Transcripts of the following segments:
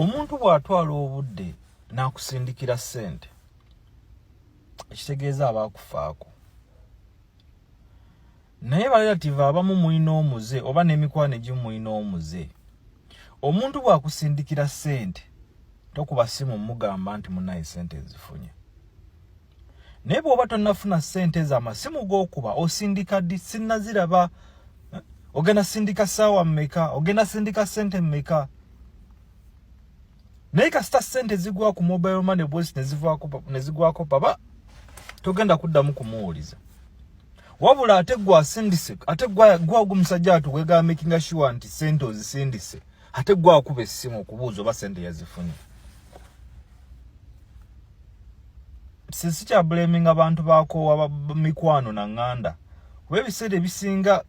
omuntu bw'atwala obudde n'akusindikira ssente ekitegeeza aba akufaako naye balelative abamu mulina omuze oba n'emikwano egimu mulina omuze omuntu bw'akusindikira ssente tokuba simu mugamba nti munaye ssente ezifunye naye bwoba tonafuna sente za masimu gokuba osindika di sinaziraba eh, ogenda sindika sawa meka ogenda sindika sente meka naye kasita sente zigwa ku mobile money boys nezivako nezigwako baba togenda kuddamu kumuwuliza wabula ate gwa sindise ate gwa gwa gumusajja atu wega making sure anti sente ozisindise ate gwa kuba essimu okubuuza oba sente yazifunye sisi kya blaming abantu bakoowa mikwano na nganda kuba ebiseera ebisinga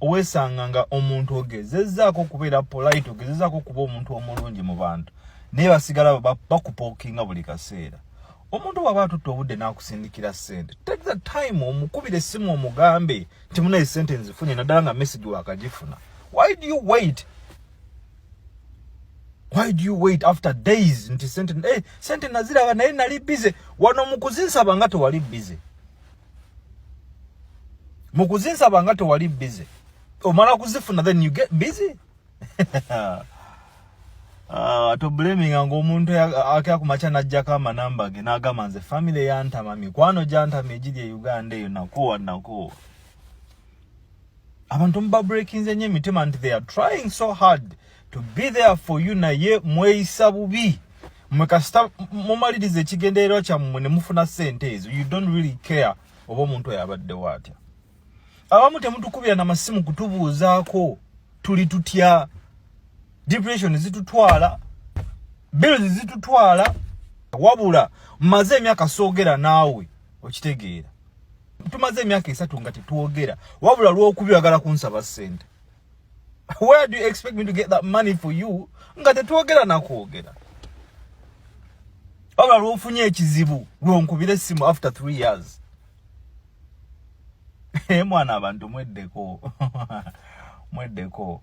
weesanga nga omuntu ogezezzaako okubeera polite ogezezzaako okuba omuntu omulungi mu bantu naye basigala bakupookinga buli kaseera omuntu bwaba atutte obudde n'akusindikira ssente take the time omukubira essimu omugambe nti munaye ssente nzifunye naddala nga message wakagifuna why do you wait why do you wait after days nti sente eh, sente naziraba naye nali busy wano mukuzinsaba nga tewali busy mukuzinsaba nga tewali busy omala kuzifuna then you get busy Uh, to blaming ngo omuntu akya kumacha najja kama namba ge nagama nze family yantama mikwano jantama ejiri e Uganda eyo nakuwa nakuwa abantu mubabrekinze nyo emitima nti they are trying so hard to be there for you naye mweyisa bubi mwe kasita mumaliriza ekigendererwa kyammwe ne mufuna sente ezo you don't really care oba omuntu oyo abaddewo atya abamu temutukubira na masimu kutubuuzaako tuli tutya depression zitutwala bills zitutwala wabula maze emyaka soogera naawe okitegeera tumaze emyaka esatu nga tetwogera wabula lwokubi oyagala kunsaba sente where do you expect me to get that money for you nga tetwogera nakwogera wabula lwofunye ekizibu lwonkubira essimu after three years mwana abantu mweddeko mweddeko